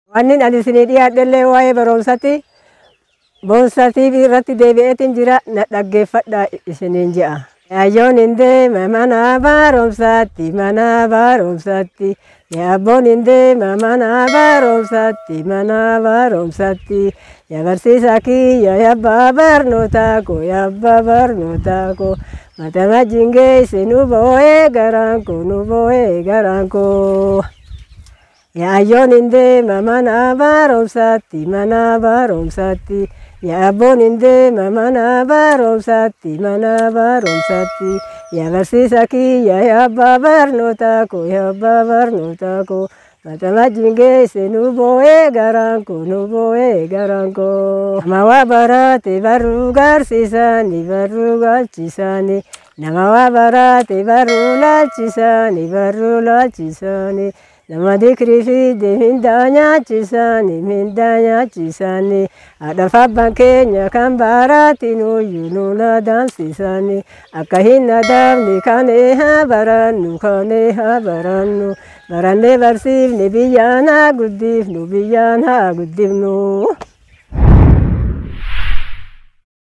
Wannin ani isinii dhiyaadhellee waa'ee baroomsati boonsa TV irratti deebi'eetiin jira na dhaggeeffadha isiniin je'a. Yaayyoon hin deema mana baroomsatti mana baroomsatti yaabboon hin deema mana baroomsatti mana baroomsatti ya barsiisa kiyya yabbaa barnootaa koo yabbaa barnootaa koo mata wajjin geesse nu boo'ee garaan koo nu boo'ee garaan koo. Yaayyoon hin deema mana barumsaatti mana barumsaatti yaabboon hin deema mana barumsaatti mana barumsaatti yaa barsiisa kiyya yaa abbaa barnootaa koo yaa abbaa barnootaa koo mata wajjin geesse nu boo'ee garaan koo nu boo'ee garaan koo nama waa baraate barruu garsiisaani barruu galchisaani nama waa baraate barruu laalchisaani barruu laalchisaani. Nama dikirii fi dimindaa nyaachisaani mindaa nyaachisaani haadhaaf abbaan keenya kan baaraati nuyyuu nuun adaamsisaani akka hin adaamne kaanee haa barannu kaanee haa barannu barannee barsiifne biyyaan haa guddifnu biyyaan haa guddifnu.